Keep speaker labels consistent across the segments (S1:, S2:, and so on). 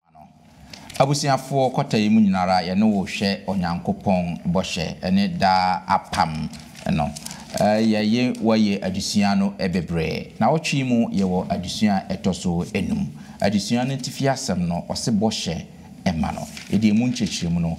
S1: ma no. Abusuafoɔ kwata yi mu nyinara yɛne wo hwɛ Onyankopɔn bɔhyɛ ne daa apam no. Yɛye woayɛ adesua no bebree. Nawɔtwe yi mu yɛwɔ adesua a ɛtɔ so enum. Adesua no atifi asɛm no ɔse bɔhyɛ ma no. Yɛde emu nkyerɛkyerɛmu no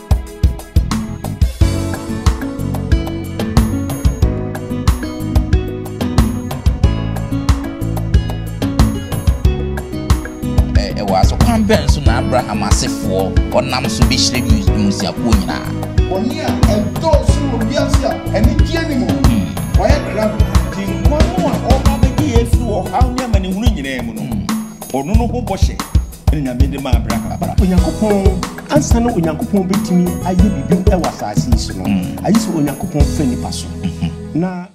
S1: Ɛwɔ asokwan bɛn so na Abraham asefoɔ ɔnam so bɛhyira mmusuakuo nyinaa? Bɔne a
S2: ɛdɔɔso wɔ wiase a anigyeɛ ne mu no, hmm. wɔayɛ krado. Gyenkwa no a ɔba bɛgye yɛn afiri ɔhaw ne amanehunu nyinaa mu no, hmm. ɔno no ho bɔhyɛ na Nyame de maa Abraham. Onyankopɔn, ansa na Onyankopɔn betumi ayɛ biribi wɔ asase yi so no, mm. ayi sɛ Onyankopɔn fɛ nipa so. Mm-hmm. Na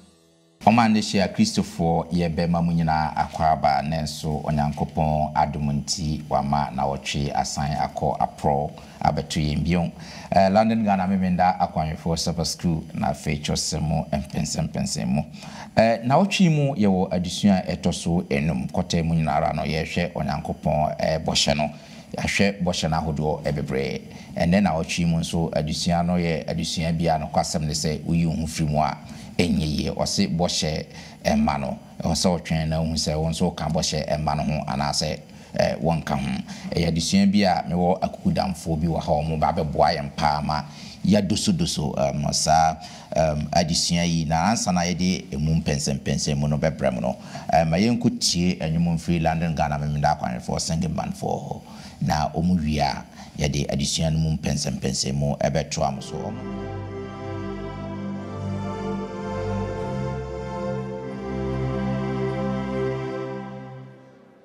S2: Ɔma ne
S1: hyia Kristofoɔ yɛ bɛma mu nyinaa akwaaba, nanso Onyankopɔn adom nti wama na wɔtwe asan akɔ aporɔw. Abɛto yɛn bio. Ɛɛ London Ghana Memenda Akwanhwɛfoɔ Supper School na afei kyerɛwsɛm mu mpɛnsɛmpɛnsɛn mu. Ɛɛ Nnawɔtwe yi mu yɛwɔ adesua a ɛtɔ so nnum. Kɔtɛɛ mu nyina ara no yɛrehwɛ Onyankopɔn bɔhyɛ no. Yɛahwɛ bɔhyɛ no ahodoɔ bebree. Ɛnnɛ nnawɔtwe yi mu nso adesua no yɛ adesua bi a nokwasɛm ne sɛ woyi wo ho firi mu a ɛnyɛ yie. Wɔse bɔhyɛ mma no. Ɛwɔ sɛ wotwɛn na wohu sɛ wo nso woka bɔhyɛ mma no ho anaasɛ. a wɔnka ho. Ɛyɛ adesua bi a mewɔ akukudamfoɔ bi wɔ ha a wɔba bɛboa yɛn paa ma yɛadosodoso saa adesua yi. Na ansa na yɛde ɛmu mpɛnsɛmpɛnsɛmu no bɛbrɛ mo no, ma yɛnkɔtie nnwom mfiri London Ghana Memeneda Akwanhwɛfoɔ Singing Bandfoɔ hɔ, na wɔwie a yɛde adesua no mu mpɛnsɛmpɛnsɛmu bɛtoa mo so.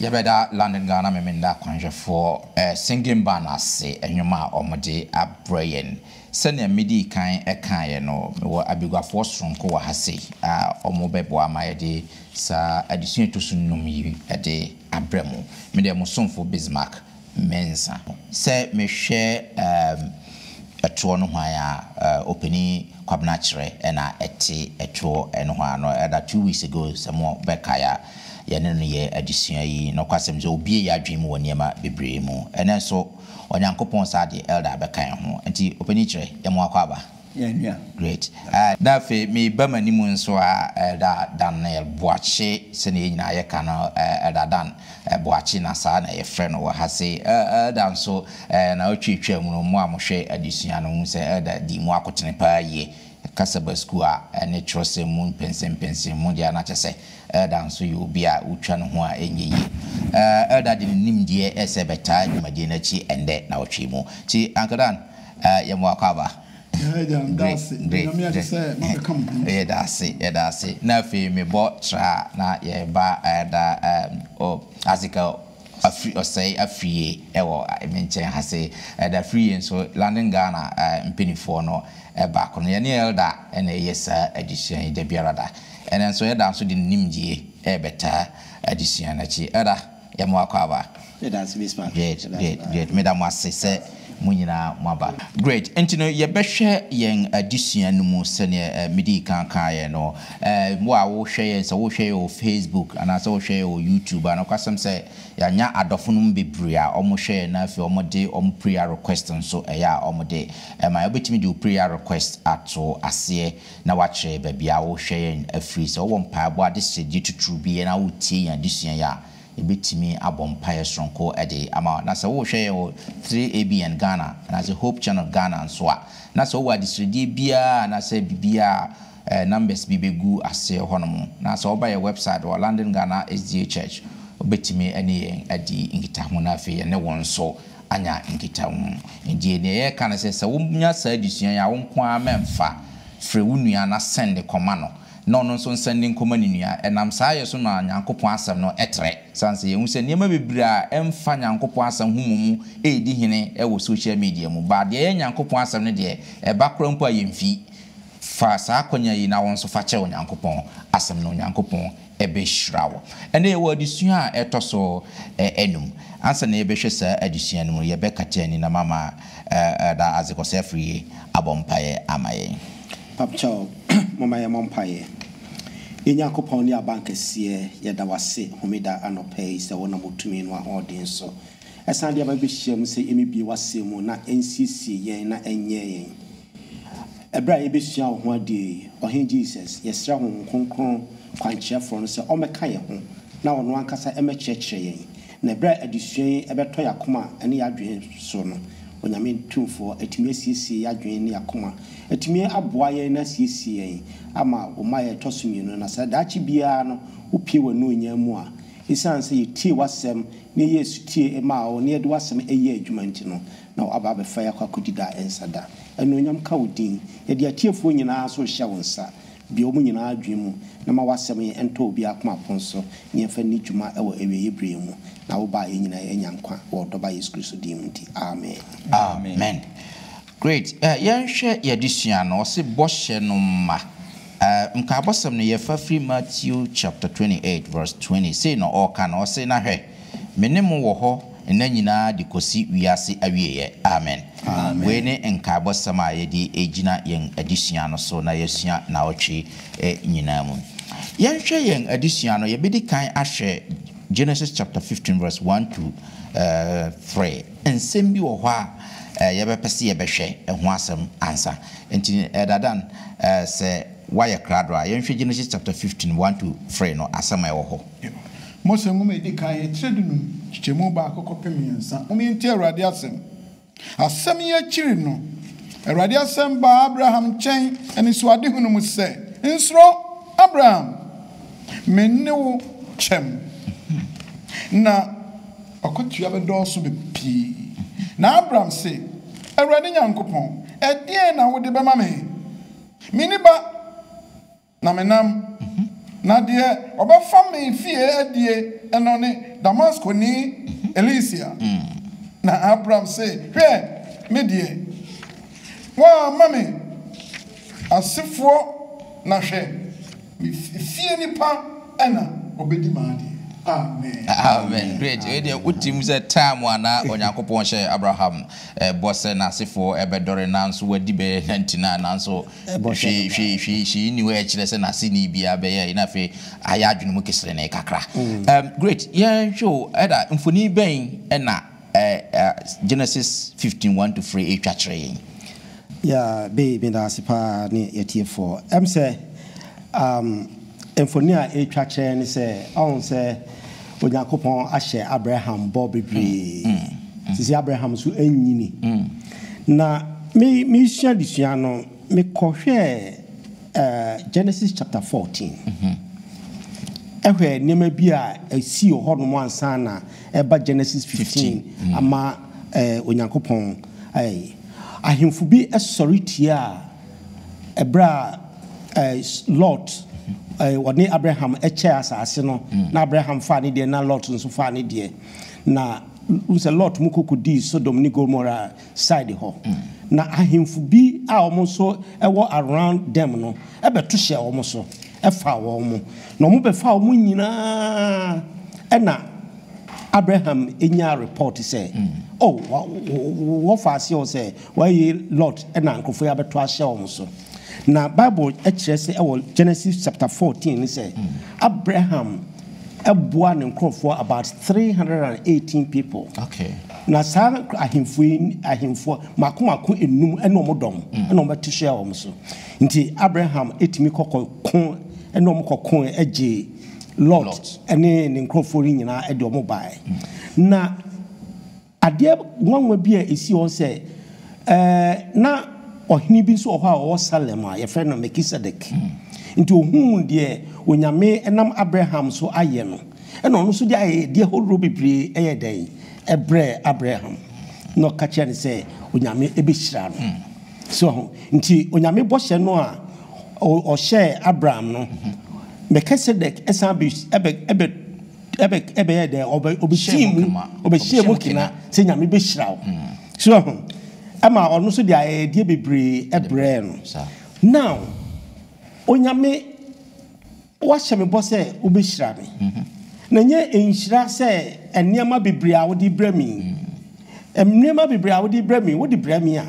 S1: Yɛbɛda London Ghana Memeneda Kwanhwɛfoɔ Singing Band ase nnwom a wɔde abrɛ yɛn. Sɛnea medii kan kaeɛ no, mewɔ abaguafoɔ sononko wɔ ha sei a wɔbɛboa ma yɛde saa adesua a ɛtɔ so nnum yi de abrɛ mo. Mede mo somfo Bismark mɛnsa. Sɛ mehwɛ ɛtoɔ nohoa yi a Opanin Kwabena kyerɛ na ɛte ɛtoɔ nohoa a, no ɛda two weeks ago sɛ mo bɛkae a, yɛne no yɛɛ adesua yi. Nokwasɛm sɛ ɔbue yɛn adwene mu wɔ nneɛma bebree mu. Ɛnnɛ nso Onyankopɔn saa deɛ Elder bɛka yɛn ho. Nti Opanin kyerɛ, yɛn mo akwaaba. Yɛn nua. Great
S2: eh
S1: na afei me ba m'anim nso ah Elder Daniel Boakye sɛnea yɛn nyinaa yɛka no eh Elder Dan eh Boakye na saa na yɛfrɛ no wɔ ha sei eh Elder nso eh na ɔtwa atwa mu no mo a mohwɛ adesua no mohu sɛ Elder dii mu akotene paa yie kasa ba sukuu a ɛne twerɛsɛm mu mpɛnsɛmpɛnsɛm mu deɛ a na kyerɛ sɛ Elder nso yɛ obi a wotwa ne ho a ɛnyɛ yie eh Elder de ne nimdeɛ ɛsɛ bɛtaa dwumadie no akyi ɛnnɛ na ɔtwee mu nti Uncle Dan Eh yɛ mo akwaaba. Yɛ agya meda ase onyame agye sɛ mabɛka mo ho. Yɛ da ase yɛ da ase na afei me bɔ tra na yɛ ba eh da eh oh asika afiri ɔsɛe afie ɛwɔ me nkyɛn ha se eh da firi yɛ nso London Ghana eh mpanifoɔ no eh baako no yɛ ne elder ɛna ɛyɛ saa adesua yi da biara da ɛna nso elder nso de ne nimdie ɛbɛtaa adesua no akyi elder Yɛ mo akwaaba.
S3: Great, great, great. Meda
S1: mo ase sɛ mo nyinaa moaba. Great, enti no yɛbɛhwɛ yɛn adesua no mu sɛdeɛ medii kan kaeɛ no. Wo a wohwɛ yɛn, sɛ wohwɛ yɛn wɔ Facebook anaasɛ wohwɛ yɛn wɔ YouTube a, nokwasɛm sɛ yɛanya adɔfo no mu bebree a wɔhwɛ yɛn na afei wɔde wɔn prayer request nso ɛyɛ a wɔde ma yɛn. Wobɛtumi de wo prayer request ato aseɛ na wakyerɛ yɛn baabi a ɔrehwɛ yɛn afiri. Sɛ wowɔ mpaebɔ adesrɛdeɛ titiriw bi na woretie yɛn adesua yi a, yɛbɛtumi abɔ mpaeɛ sononko de ama wo. Na sɛ worehwɛ yɛn wɔ 3ABN Ghana anaasɛ Hope Channel Ghana nso a, na sɛ wowɔ adesrɛdeɛ biara anaasɛ biribiara a, eh, numbers bi bɛgu aseɛ hɔnom. Na sɛ woba yɛn website wɔ London Ghana SDA Church, wobɛtumi ne yɛn adi nkitaho na afei yɛne wo nso anya nkitaho. Enti nea yɛreka ne sɛ, sɛ wonya saa adesua yi a, wo nko ara mmɛmfa. Frɛ wo nua na sɛnde kɔma no, na ɔno nso nsɛnde nkɔma ne nua. Ɛnam saa yɛ so ma Nyankopɔn asɛm no trɛ. Esiane sɛ yɛahu sɛ nneɛma bebree a ɛmfa Nyankopɔn asɛm ho mmom redi hene wɔ sohyial media mu, baa deɛ ɛyɛ Nyankopɔn asɛm no deɛ, ɛba koraa mpo a yɛmfi. Fa saa akwanya yi na wo nso fa kyerɛ Onyankopɔn Asɛm no. Onyankopɔn. ɛbɛhyira wo. Ɛnnɛ yɛwɔ adesua a ɛtɔ so anum. Ansa na yɛbɛhwɛ saa adesua no mu no, yɛbɛkata ani na mama Elder Isaac Osei-Afriyie abɔ mpaeɛ ama yɛn. Papakyɛw,
S3: momma yɛmmɔ mpaeɛ. Yɛn Nyankopɔn ne Abankɛseɛ, yɛda wo ase Homeda anɔpa yi sɛ wonam wo tumi ne w'ahoɔden so ɛsan de aba bɛhyiam sɛ yɛmmɛbie w'asɛm mu na ɛnsiesie yɛn na ɛnyɛn yɛn Bere a yebesua wo ho ade yi, Ɔhene Jesus, yɛsrɛ Honhom Kronkron, Kwankyerɛfoɔ no, sɛ ɔmmɛka yɛn ho na ɔno ankasa mmɛkyerɛkyerɛ yɛn. Na bere a adesua yi bɛtɔ yɛn akoma ne yɛn adwene so no, Onyame Tumfoɔ, atumi asiesie yɛn adwene ne yɛn akoma, atumi aboa yɛn na asiesie yɛn ama wo mmaeɛ a ɛtɔ so mmienu no, na sɛ daakye biara no wopue w'anuonyam mu a, esiane sɛ yɛtiee w'asɛm na yɛyɛɛ sotie maa wo na yɛde w'asɛm yɛɛ adwuma nti no, Na w'aba abɛfa yɛ akɔ akɔdi da a ɛnsa da. Anuonyam ka wo din. Yɛde atiefoɔ nyinaa nso rehyɛ wo nsa. Bue wɔn nyinaa adwene mu, na ma w'asɛm yi ntɔ obiara akoma pon so, na yɛmfa nni dwuma wɔ awieeɛ berɛ yi mu, na wo ba a yɛn nyinaa yɛanya nkwa wɔ wo Dɔba Yesu Kristo din mu nti, amen. Amen.
S1: Great. Eh, yɛnhwɛ yɛn adesua no. Ɔse bɔhyɛ no mma. Eh, nkaebɔsɛm no yɛfa firi Matthew chapter twenty eight verse twenty. Sei na ɔɔka no, ɔse, Na hwɛ, Me ne mo wɔ hɔ nna nyinaa de kɔsi wiase awieɛ. Amen. Wei ne nkaebɔsɛm a yɛde regyina yɛn adesua no so na yɛasua nnawɔtwe nyinaa mu. Yɛnhwɛ yɛn adesua no, yɛbɛdi kan ahwɛ Genesis chapter 15 verse 1 to 3. Nsɛm bi wɔ hɔ a yɛbɛpɛ sɛ yɛbɛhwɛ ɛho asɛm ansa. Nti Ɛda Dan, sɛ woayɛ krado a, yɛnhwɛ Genesis chapter 15 1 to 3 no, asɛm a ɛwɔ hɔ. Mose Nwoma
S2: a Edi Kan, Etire Dunum, Nkyekyɛmu Baako Kɔpem Mmiɛnsa, Momma Yɛntie Awurade Asɛm. Asɛm yi akyiri no, Awurade asɛm baa Abraham nkyɛn anisoadehu no mu sɛ, Nsuro, Abraham! Me ne wo kyɛm, na w'akatua bɛdɔɔso pii. Na Abram se, Awurade Nyankopɔn, ɛdeɛn na wode bɛma me? Menni ba. Na me nam, na deɛ ɔbɛfa me fie adie no ne Damaskoni Elisia. Na Abram se, Hwɛ, me deɛ, woamma me asefoɔ, na hwɛ, me fie nipa na ɔbɛdi m'adeɛ. Amen. Amen. Great. Wei deɛ
S1: wote mu sɛ time a na Onyankopɔn hyɛɛ Abraham bɔ sɛ n'asefoɔ bɛdɔre nanso wadi bɛyɛ nanti na nanso bɔhwɛ no ba. Hwee, hwee, hwee nni hɔ a ɛkyerɛ sɛ n'aseni biara bɛyɛ ayi na afei ayɛ adwene mu keserenee kakra. Ɛm, great, yɛnhwɛ o, Ɛda, mfoni bɛn na ɛ, ɛ, Genesis fifteen one to free retwa kyerɛ yɛn? Yeah,
S3: Bay, meda ase paa ne yɛtiefoɔ. Ɛm sɛ, um. Mfoni a ɛretwa kyerɛ ne sɛ, ɔhu sɛ Onyankopɔn ahyɛ Abraham bɔ bebree. Sisi Abraham nso nyini. Na me mesua adesua no, mekɔhwɛɛ eh, Genesis chapter 14. Ɛhwɛ nneɛma bi a ɛsii wɔ hɔnom ansa na ɛba Genesis 15 ama eh, Onyankopɔn eh, ahemfo bi sɔre tiaa Ɛberɛ a ɛɛ Lot ɛɛ ɔne Abraham kyɛɛ asase no, na Abraham faa ne deɛ na Lot nso faa ne deɛ. Na wohu sɛ Lot mo kɔ kɔdii Sodom ne Gomora side hɔ. Na ahemfo bi a wɔn nso wɔ around them no bɛto hyɛɛ wɔn so faa wɔn. Na wɔbɛfaa wɔn nyinaa ɛna Abraham nyaa report sɛ, Oh, wɔ wɔfaa aseɛ o sɛ. Wɔayi Lot na nkurɔfo yi abɛto ahyɛ wɔn so. Na Bible kyerɛ sɛ wɔ Genesis chapter fourteen mu sɛ, Abraham boaa ne nkurɔfoɔ about three hundred and eighteen people. Okay. Na
S1: saa
S3: ahemfo yi ahemfoɔ mako mako enum ɛna wɔn dɔm ɛna wɔn bɛto hyɛ wɔn so. Nti Abraham etumi kɔkɔ ko ɛna wɔn kɔko ɛgye Lot ɛne ne nkurɔfoɔ yi nyinaa ɛde wɔn baeɛ. Na Adeɛ nwanwa bi a ɛsii hɔ ne sɛ, na ɔhene bi nso wɔ hɔ a ɔwɔ Salem a wɔfrɛ no Melkisedek. Enti ɔhuu deɛ Onyame nam Abraham so ayɛ no, ɛnna ɔno nso de ayɛyɛdeɛ horoɔ bebree yɛɛ dɛn? Ɛbrɛɛ Abraham, na ɔka kyerɛɛ no sɛ Onyame bɛhyira no. So ahu? Enti Onyame bɔhyɛ no a ɔhyɛɛ Abraham no, Melkisedek san bɛ. Ɛbɛ ɛbɛyɛɛ dɛn? Ɔbɛ ɔbɛhyɛɛ mu kena. Ɔbɛhyɛɛ mu kena sɛ Nyame bɛhyira wo. So ahu? Ɛma ɔno nso de ayɛyɛdeɛ bebree brɛɛ no. Now, Onyame, woahyɛ me bɔ sɛ wobɛhyira me. Na ɛnyɛ nhyira sɛ nneɛma bebree a wode brɛ me yi. Nneɛma bebree a wode brɛ me yi, wode brɛ me a,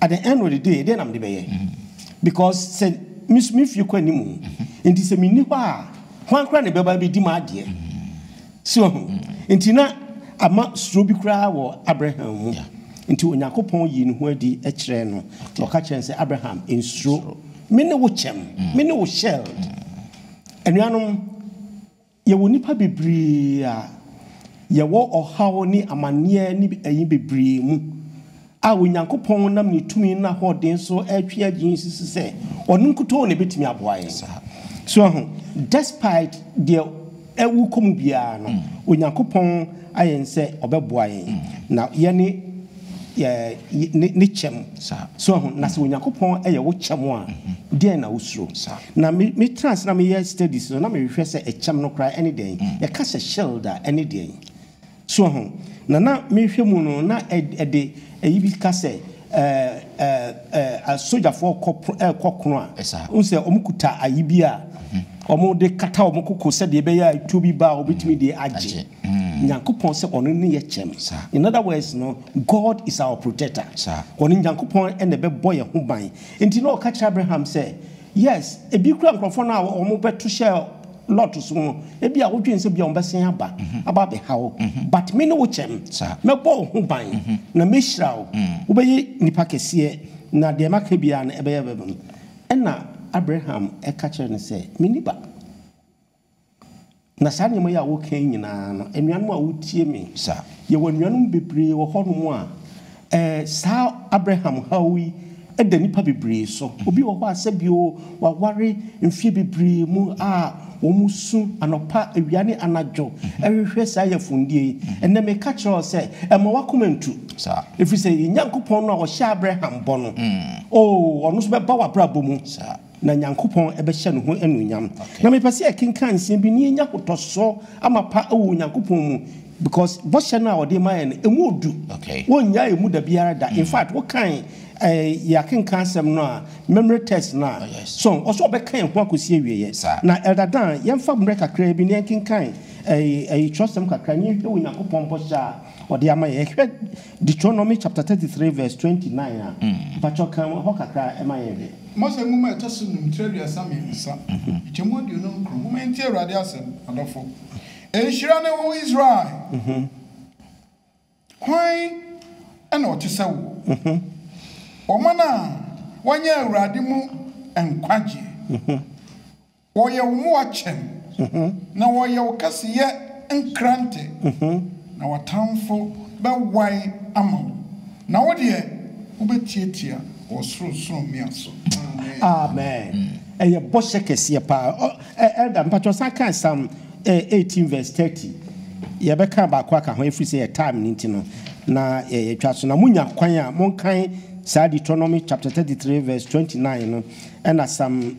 S3: at the end of the day, ɛdeɛn na mede bɛyɛ? Because sɛ, me nso me fie kɔ anim. Nti sɛ menni hɔ a. Hwan koraa na ɛbɛba abɛdi m'adeɛ? So ahu? Nti na ama suro bi koraa wɔ Abraham mu. Nti Onyankopɔn yii ne ho adi kyerɛɛ no, na ɔka kyerɛɛ no sɛ, Abraham, nsuro. Me ne wo kyɛm. Me ne wo shield. Anuanom, yɛwɔ nnipa bebree a yɛwɔ ɔhaw ne amanneɛ ne ayi bebree mu. A Onyankopɔn nam ne tumi n'ahoɔden so retwe agye yi nsusu sɛ ɔno nkutoo na ebetumi aboa yɛn. So woahu? Despite deɛ ɛwu kɔ mu biara no, Onyankopɔn ayɛ ne sɛ ɔbɛboa yɛn, na yɛne yɛ ne kyɛm. So woahu? Na sɛ Onyankopɔn yɛ wo kyɛm a, deɛn na wosuro? Na me metra ase na meyɛ studies no, na mehwehwɛ sɛ ɛkyɛm no koraa ɛne dɛn? Yɛka sɛ shield a, ɛne deɛn? So ho, na na mehwɛ mu no na ɛde ɛyi bi ka sɛ sogyafoɔ rekɔ ko a, wohu sɛ wɔkuta ayi bi a wɔde kata wɔn koko sɛdeɛ ɛbɛyɛ a tuo bi ba a wɔbɛtumi de agye Nyankopɔn sɛ ɔno ne yɛ kyɛm. In other words no, God is our protector. Ɔno Nyankopɔn na ɛbɛbɔ yɛn ho ban. Nti na ɔka kyerɛ Abraham sɛ, Yes, ebi kura nkurɔfoɔ no a wɔn bɛto hyɛ lot so no, ebi a wodwen sɛ bia wɔn bɛsen aba, aba abɛha wo, but me ne wo kyɛm, mɛbɔ wo ho ban, na mɛhyira wo, wobɛyɛ nipa kɛseɛ, na deɛ maka biara no ɛbɛyɛ bɛbam. Ɛna Abraham ɛka kyerɛ no sɛ, Me niba. Na saa nneɛma yi a woka yi nyinaa no, anuanom a wotie me, yɛwɔ anuanom bebree wɔ hɔnom a saa Abraham haw yi da nnipa bebree so. Obi wɔ hɔ a sɛbi o, waware mfeɛ bebree mu a wɔsu anɔpa, awia ne anadwo rehwehwɛ saa yafundie yi. Ɛnnɛ meka kyerɛ wo sɛ, mma w'akoma ntu, ɛfiri sɛ yɛn Nyankopɔn no a ɔhyɛɛ Abraham bɔ no, oo, ɔno nso bɛba w'abrabɔ mu. Na Nyankopɔn bɛhyɛ ne ho anuonyam. Na mepɛ sɛ yɛkenkan nsɛm bi na yɛnya ahotɔsoɔ amapa wɔ Onyankopɔn mu because bɔhyɛ no a ɔde ma yɛn no, ɛmu ɔdu. Wɔnnyaa ɛmu da biara da. In fact, wokan yɛn akenkan asɛm no a, memory text no a, so ɔsɛ ɔbɛka yɛn ho akɔsi awieɛ. Na Elder Dan, yɛmfa mmerɛ kakra bi na yɛnkenkan twerɛsɛm kakra na yɛnhwɛ Onyankopɔn bɔhyɛ a ɔde ama yɛn. Hwɛ. Deuteronomy chapter thirty three verse twenty nine a, mpakyɛw kan hɔ kakra ma yɛn hwɛ. Mose nwoma a ɛtɔ
S2: so num tire aduasa mmiɛnsa kyɛ mu aduonum nkron Momma yɛntie Awurade asɛm, adɔfo Nhyira ne wo, Israel Hwan na ɔte sɛ wo, Ɔman a wɔanya Awurade mu nkwagyeɛ? Wɔyɛ wo mmoa kyɛm, na wɔyɛ wo kɛseyɛ nkrante, na w'atamfo bɛwae ama wo, na wo deɛ, wobɛtiatia wɔ soro sorɔmmea so. Amen.
S3: Amen. Ɛyɛ bɔhyɛ kɛseɛ paa. Ɔ, ɛ, Elder, mpakyɛw san kan Psalm eh, 18 verse 30. Yɛbɛka baako aka ho ɛfiri sɛ yɛ time no nti no na yɛ- yɛtwa so. Na monya kwan a monkan saa Deuteronomy chapter 33 verse 29 no ɛna Psalm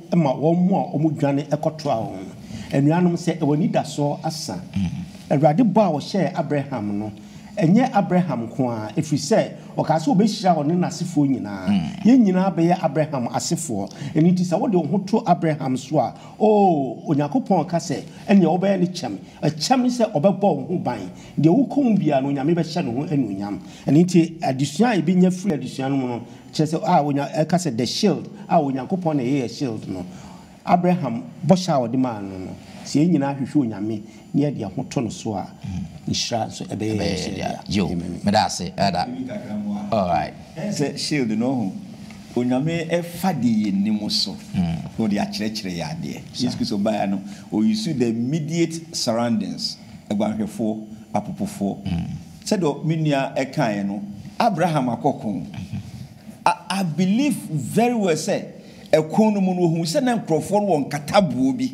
S3: ma wɔn a wɔdwane kɔtoaa wɔn no. Anuanom, sɛ ɛwɔ anidasoɔ asa. Awurade bɔ a ɔhyɛɛ Abraham no, ɛnyɛ Abraham nko ara, ɛfiri sɛ ɔkaa sɛ ɔbɛhyira ɔne n'asefoɔ nyinaa. Yɛn nyinaa bɛyɛ Abraham asefoɔ. Ɛno nti sɛ wode wo ho to Abraham so a, oo, Onyankopɔn ka sɛ, ɛnneɛ wobɛyɛ ne kyɛm. Ɛkyɛm ne sɛ ɔbɛbɔ wo ho ban. Deɛ wokɔ mu biara no, Onyame bɛhyɛ ne ho anuonyam. Ɛno nti adesua a yɛbɛnya firi adesua no mu no, Kyerɛ sɛ, a onya, ɛka sɛ the shield, a Onyankopɔn na ɛyɛ shield no. Abraham bɔhyɛ a ɔde maa no no, sɛ yɛn nyinaa hwehwɛ Onyame na yɛde yɛn ho to no so a, nhyira nso ɛbɛyɛ yɛn so dea. Amen.
S1: Ɛyɛ sɛ shield no,
S2: ohu, Onyame ɛfa deɛ yɛn nni mu so na ɔde akyerɛkyerɛ yɛn adeɛ. Yesu Kristo baeɛ no, ɔ use the immediate surroundings, aguanhwɛfoɔ, apopofoɔ. Sɛdeɛ me nua kaeɛ no, Abraham akɔ ko. I believe very well sɛ ɛko no mu no ɔhuu sɛ na nkurɔfoɔ no wɔ nkataboɔ bi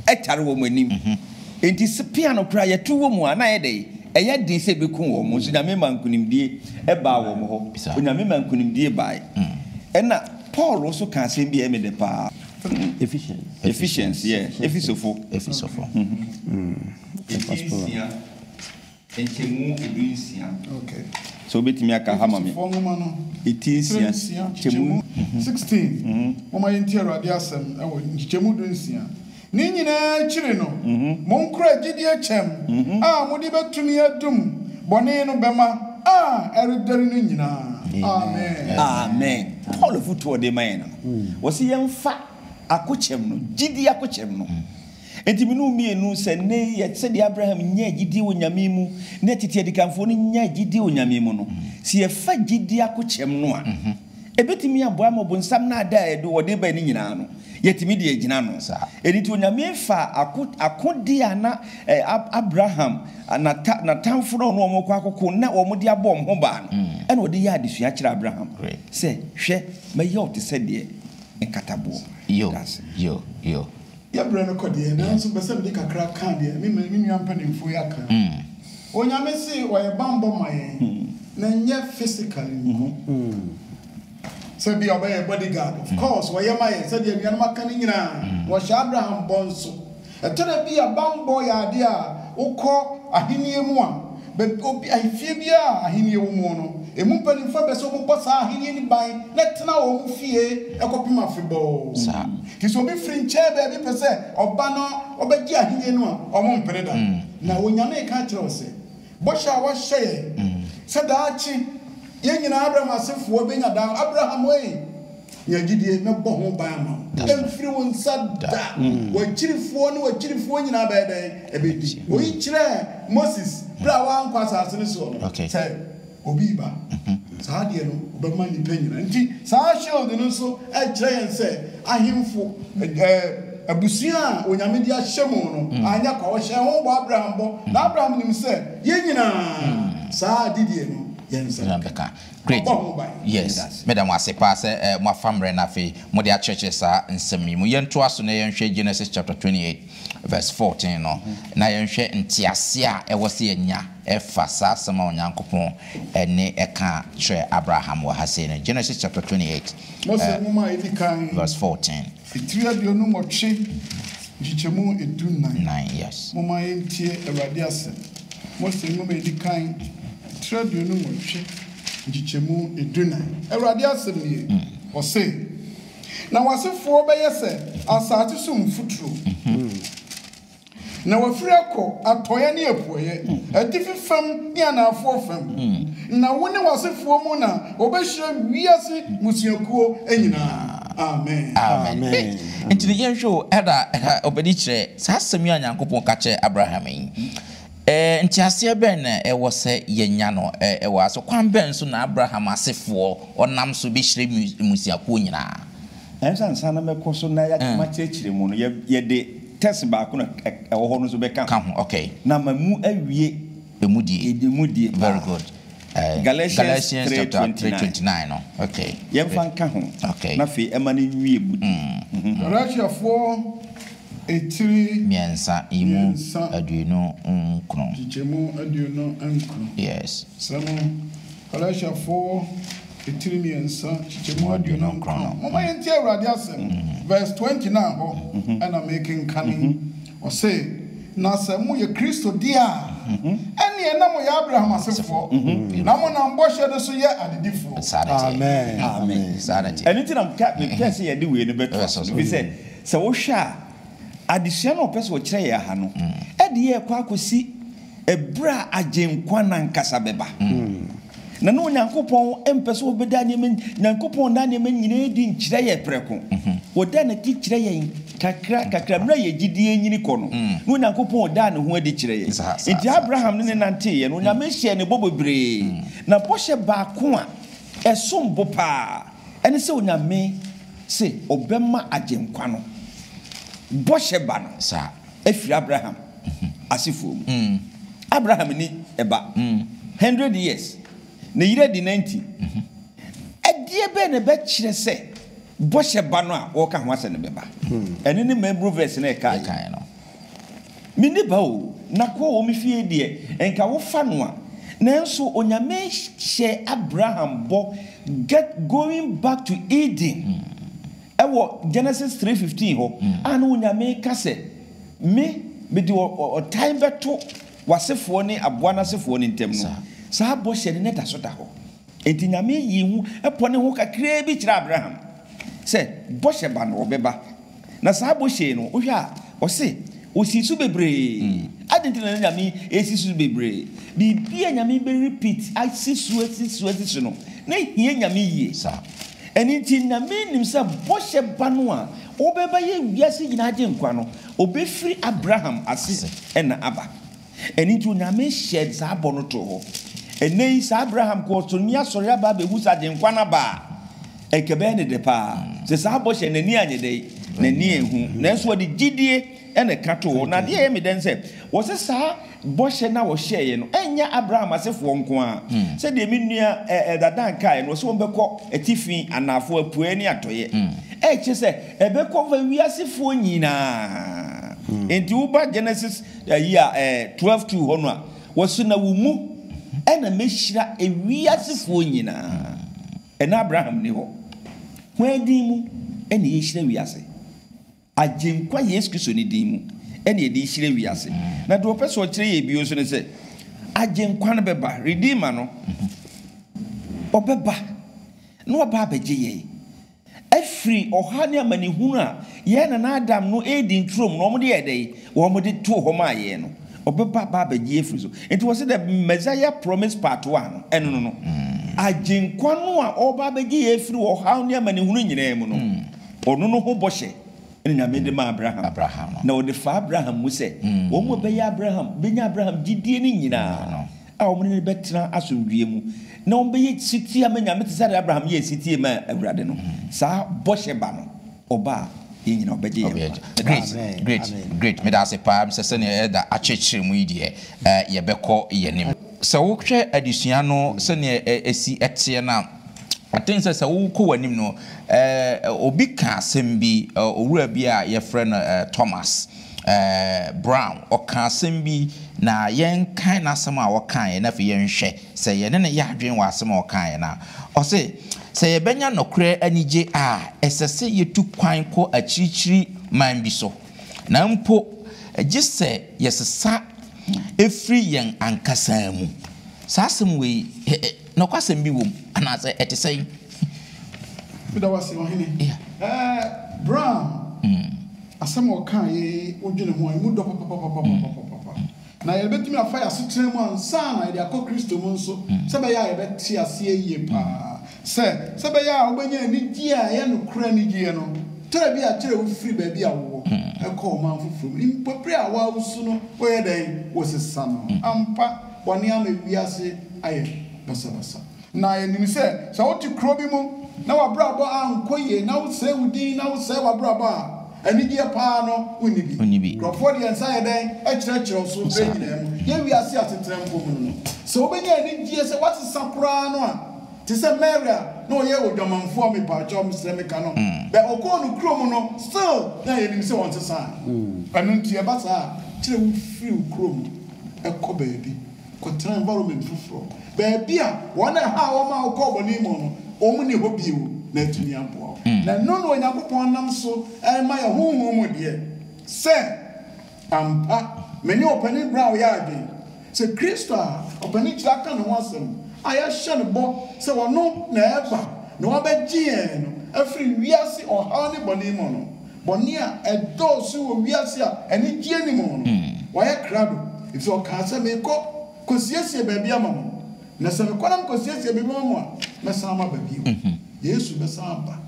S2: ɛtare wɔn anim. Enti spear no koraa yɛto wɔ mu a na ayɛ dɛn? Ɛyɛ den sɛ ɛbɛku wɔn. Nso Nyame maa nkunimdie baa wɔn hɔ. Onyame maa nkunimdie baae. Ɛna Paul nso kaa asɛm bi a ɛyɛ me dɛ paa. Ephesians, yeah, Efesofo. Efesofo. Efi nsia, nkyɛmu edu nsia. Okay. So obetumi aka ha ma me. Efesofoɔ nwoma no. Eti nsia. Nsia, nkyɛmu sixteen. Momma yɛntie Awurade asɛm wɔ nkyɛmu du nsia. Ne nyinaa akyiri no, monkura gyidie kyɛm a mode bɛtumi adum bɔne no bɛma a ɛredɛre no nyinaa. Amen. Amen. Paul afotu a ɔde ma yɛn no, ɔse yɛmfa akokyɛm no, gyidie akokyɛm no. Enti me ne wo mmienu, sɛ nnɛ yi yɛ, sɛdeɛ Abraham nyaa gyidie wɔ Nyame mu, ne tete adikanfoɔ no nyaa gyidie wɔ Nyame mu no, sɛ yɛfa gyidie akokyɛm no a, ɛbɛtumi aboa ama ɔbonsam naadaa a ɛde wɔde bae no nyina ara no, yɛatumi de agyina ano. Ɛno nti Onyame faa ako, akodeɛ a na Ab, Abraham nata, natamfo no a ɔne wɔn rekɔ akoko na wɔn de abɔ wɔn ho baa no, ɛna ɔde yɛɛ adesua kyerɛɛ Abraham sɛ, Hwɛ, mɛyɛ wo te sɛ deɛ nkataboɔ. Yo,
S1: yo, yo.
S4: Yɛbrɛ no kɔ deɛ, nanso mpɛ sɛ mede kakra ka deɛ me me nua mpanimfoɔ yi aka. Onyame se ɔyɛ bammɔ ma yɛn, na ɛnyɛ physically nko. Sɛ bia ɔbɛyɛ yɛ body guard, of course ɔyɛ ma yɛn sɛdeɛ anuanom aka no nyinaa. Na ɔhyɛɛ Abraham bɔ nso. Ɛtɔ da bi a bammɔ yɛ adeɛ a wokɔ ahennie mu a, Baabi obi, ahefie biara a Ahenni wɔ mu no, emu mpanimfoɔ bɛpɛ sɛ wɔbobɔ saa Ahenni no ban na ɛtena wɔn fie kɔpem afebɔɔ. Nti sɛ obi
S1: firi nkyɛn
S4: baabi pɛ sɛ ɔba na ɔbɛgye Ahenni no a, wɔmpene da. Na Onyame reka akyerɛ wo sɛ, Bɔhyɛ a woahyɛ yɛn sɛ daakye yɛn nyinaa, Abraham asefoɔ, bɛnya daa, Abraham ei! Nya gyidie, mɛbɔ ho ban ama wo. Ɛmfiri wo nsa da. W'akyirifoɔ ne w'akyirifoɔ nyinaa bɛyɛ dɛn? Ɛbɛdi. Wɔyi kyerɛɛ Moses berɛ a wankɔ asase no soɔ no sɛ obi reba. Saa adeɛ no, ɔbɛma nnipa nyinaa. Nti saa shield no nso kyerɛ yɛn sɛ ahemfo, abusua a Onyame de ahyɛ mu no, anyɛ kwa. Wɔhyɛɛ ho bɔ, Abraham bɔ. Na Abraham nim sɛ yɛn nyinaa saa gyidie no yɛn nsa bɛka.
S1: Great. Ɔbɔ ho ban. Yes. Meda ase. Meda mo ase paa sɛ moafa mmerɛ na afei mode akyerɛkyerɛ saa nsɛm yi mu. Yɛntoa so na yɛnhwɛ Genesis chapter twenty eight verse fourteen no, na yɛnhwɛ nteaseɛ a ɛwɔ sɛ yɛnya ɛfa saa asɛm a Onyankopɔn ne ɛka kyerɛɛ Abraham wɔ ha sei no. Genesis chapter twenty eight, Mose Nwoma a Ɛdi Kan.
S4: verse fourteen. Fitiri
S1: aduonu
S4: nwɔtwe nkyekyɛmu edu nnan. Momma
S1: yɛntie
S4: Awurade asɛm. Mose Nwoma a Edi Kan, tiri aduonu nwɔtwe nkyekyɛmu edu nnan. Awurade asɛm nie, ɔse, Na w'asefoɔ bɛyɛ sɛ asase so mfuturo. Na wafiri akɔ atɔeɛ ne apueɛ, atifi fam ne anaafoɔ fam, na wo ne w'asefoɔ mu na wɔbɛhyira wiase mmusuakuo nyinaa. Amen. Amen.
S1: Nti no, yɛnhwɛ o, ɛda a ɛha ɔbɛdi kyerɛ saa asɛm yi a Nyankopɔn ka kyerɛɛ Abraham yi, nteaseɛ bɛn na ɛwɔ sɛ yɛnya no wɔ ha? So kwan bɛn so na Abraham asefoɔ ɔnam so bɛhyira mmusuakuo nyinaa? Nanso ansa
S2: na mɛkɔ so na yɛagye m'akyerɛkyerɛ mu no, yɛde tɛs baako na ɛwɔ hɔ no nso bɛka ho, na ama
S1: mu
S2: awie emu die paa.
S1: Galatians three twenty nine, yɛmfa nka ho,
S2: na afei ɛmma
S1: no nwie
S2: butu. Galatiafoɔ
S4: etiri mmiɛnsa,
S1: nkyekyɛmu aduonu nkron.
S4: Galatiafo titiri mmiɛnsa, nkyekyɛmu aduonu nkron. Momma yɛntie Awurade asɛm. Verse twenty no ara hɔ na merekenkan yi. Ɔse, Na sɛ moyɛ Kristo deɛ a, ɛnneɛ na moyɛ Abraham asefoɔ, na monam bɔhyɛ no so yɛ adedifoɔ. Saa na ɛteɛ. Amen.
S1: Saa na ɛteɛ. Ɛno nti na mepɛɛ
S2: sɛ yɛde wei no bɛtoa so no, ɛfiri sɛ, sɛ wohwɛ a, adesua no a ɔpɛ sɛ ɔkyerɛ yɛn ha no, ɛdeɛ ɛrekɔ akɔsi Ɛberɛ a Agyenkwa no ankasa bɛba. Na na Onyankopɔn mpɛ sɛ ɔbɛda nneɛma, Nyankopɔn da nneɛma nyinaa adi nkyerɛ yɛn prɛko. Ɔda no adi kyerɛ yɛn kakra kakra. Mmerɛ a yɛn gyidie renyini kɔ no, na Onyankopɔn daa Ne ho adi kyerɛ yɛn. Enti Abraham ne No nanteeɛ no, Onyame hyɛɛ no bɔ bebree. Na bɔhyɛ baako a ɛsom bo pa ara ne sɛ Onyame se Ɔbɛma Agyenkwa no bɔhyɛ ba no. afiri
S1: Abraham
S2: asefoɔ mu. Abraham nni ba. Hundred years. Ne yere adi ninety. Ɛdeɛ bɛn na ɛbɛkyerɛ sɛ bɔhyɛ ba no a wɔreka ho asɛm no bɛba? Ɛno ne mmabunu verse no a ɛkaeɛ no. Menni ba o, n'akoa wɔ me fie deɛ, nka wofa no a. Nanso Onyame hyɛɛ Abraham bɔ get going back to Eden. Wɔ Genesis three fifteen hɔ a na Onyame reka sɛ, Me, mede ɔtan bɛto w'asefoɔ ne aboa no asefoɔ no ntam no, saa bɔhyɛ no na ɛdaso da hɔ. Enti Nyame yii ho pɔ ne ho kakraa bi kyerɛɛ Abraham sɛ bɔhyɛ ba no ɔbɛba. Na saa bɔhyɛ yi no, wohwɛ a, Ɔse osii so bebree. Adɛn nti na na Nyame ɛresi so bebree? Biribi a Nyame bɛ repeat, asi so, asi so, asi
S1: so no,
S2: na ɛhia Nyame yie. Ɛno nti Nyame nim sɛ bɔhyɛ ba no a ɔbɛba yɛ wiase nyinaa Agyenkwa no, ɔbɛfiri Abraham ase na aba. Ɛno nti Onyame hyɛɛ saa bɔ no too hɔ. Ɛnnɛ yi saa Abraham kɔ ɔsoro ne asɔre aba abɛhu sɛ Agyenkwa no aba a, ɛnka ɛbɛyɛ no dɛ paa. Sɛ saa bɔ hyɛ no, n'ani anyɛ dɛn? N'ani anhu. Nanso ɔde gyidie na ɛka too hɔ. Na adeɛ a ɛyɛ me dɛ ne sɛ, wɔse saa bɔhyɛ no a wɔhyɛeɛ no, ɛnyɛ Abraham asefoɔ nko ara. Sɛdeɛ me nua Elder Dan kaeɛ no, wɔse wɔbɛkɔ atifi, anaafoɔ, apueɛ ne atɔeɛ. Ɛkyerɛ sɛ ɛbɛkɔ wiasefoɔ nyinaa. Enti woba Genesis Ayi a ɛɛ twelve two hɔ no a wɔsi na wo mu ɛna mehyira ewiase foɔ nyinaa ɛna Abraham ni hɔ hwan din mu ɛna yɛhyira wiase Agyenkwa Yesu Kristo ne din mu ɛna yɛde rehyira wiase na deɛ ɔpɛ sɛ ɔkyerɛ yɛn bio nso ne sɛ Agyenkwa no bɛba Redeemer no ɔbɛba na waba abɛgye yɛn Afiri ɔhaw ne amanehunu a yɛn nana Adam no redi nturom na wɔde yɛɛ dɛn? Wɔde too hɔ maa yɛn no, ɔbɛba aba abɛgye yɛn afiri so. Nti wɔse the Messiah promised part one no, ɛno no no. Agyenkwa no a ɔreba abɛgye yɛn afiri ɔhaw ne amanehunu nyinaa mu no, ɔno no ho bɔhyɛ na Nyame de maa Abraham. Na ɔde faa Abraham mu sɛ, wɔn a wɔbɛyɛ Abraham, bɛnya Abraham gyidie no nyinaa a wɔne no bɛtena asomdwoeɛ mu, na wɔbɛyɛ setie ama Nyame te sɛdeɛ Abraham yɛɛ setie maa Awurade no, saa bɔhyɛ ba no, ɔba a, yɛn nyinaa ɔbɛgye yɛn nkwa. Meda ase. Great, great, great. Meda ase paa. Mesɛ sɛdeɛ Elder akyerɛkyerɛ mu yi deɛ, eh, yɛbɛkɔ yɛn anim. Sɛ wohwɛ adesua no sɛdeɛ ɛ, ɛsi teɛ no a, I think sɛ, sɛ wokɔ w'anim no, eh, obi kaa asɛm bi, eh, owura bi a yɛfrɛ no, eh, Thomas, Brown, ɔkaa asɛm bi, na yɛnkae n'asɛm a ɔkaeɛ na afei yɛnhwɛ sɛ yɛne no yɛ adwene wɔ asɛm a ɔkaeɛ no ho. Ɔse, Sɛ yɛbɛnya nokorɛ anigye a, ɛsɛ sɛ yɛtu kwan kɔ akyirikyiri man bi so, na mpo gye sɛ yɛsesa firi yɛn ankasa mu. Saa asɛm wei, Nokwasɛm bi wom, anaasɛ ɛte sɛn?
S4: Meda wo ase, Ɔhene. Ɛɛ, Brown, asɛm a ɔkaeɛ yi, wodwene ho a, emu dɔ papapapapapapapapa. Na yɛbɛtumi afa yɛn asetra mu ansa na yɛde akɔ Kristo mu nso, sɛ ɛbɛyɛ a yɛbɛte aseɛ yie pa ara sɛ, sɛ ɛbɛyɛ a wobɛnya anigyeɛ a ɛyɛ nokorɛ anigyeɛ no, tra bi a kyerɛ wofiri baabi a wowɔ kɔ ɔman foforɔ mu, mpofirim a wo ara wosu no, woyɛ dɛn? Wosesa no ampa. Bɔne ama wiase ayɛ basabasa. Na yenim sɛ, sɛ wote kurow bi mu na w'abrabɔ ankɔ yiye, na wosɛe wo din, na wosɛe w'abrabɔ a, anigye paa no, wunni bi. Nkurɔfo de yɛn nsa yɛ dɛn kyerɛkyerɛ wo so bere nyinaa mu? Yɛn wiase asetra mpo mu no, sɛ wobenya anigye sɛ woasesa koraa no a, te sɛ Mary a na ɔyɛ odwamanfo a mepaakyɛw mesrɛ meka no, bɛ ɔkɔɔ no kurow mu no, still na yenim sɛ ɔnsesae. Ɛno nti, ɛba saa a, kyerɛ wofiri wo kurow mu. kɔ baabi kɔtena environment foforɔ, baabi a wɔn a ɛha wɔn a wɔkɔɔ bɔne mu no, wɔn nni hɔ bio, na atumi aboa wo. Na ɛno na Onyankopɔn nam so rema yɛn honhom mu deɛ sɛ, Ampa, me ne Ɔpanin Brown yɛ adwene sɛ Kristo a Ɔpanin Kyerɛ aka ne ho asɛm a yɛahyɛ no bɔ sɛ ɔno na ɛreba na wabɛgye yɛn no afiri wiase ɔhaw ne bɔne mu no, Bɔne a ɛdɔɔso wɔ wiase a anigyeɛ nni mu no, wayɛ krado, ɛfiri sɛ ɔkaa sɛ, Merekɔ kɔsiesie baabi ama mo, na sɛ mekɔ na mekɔsiesie baabi ma mo a, mɛsan maba bio. Yesu bɛsan aba.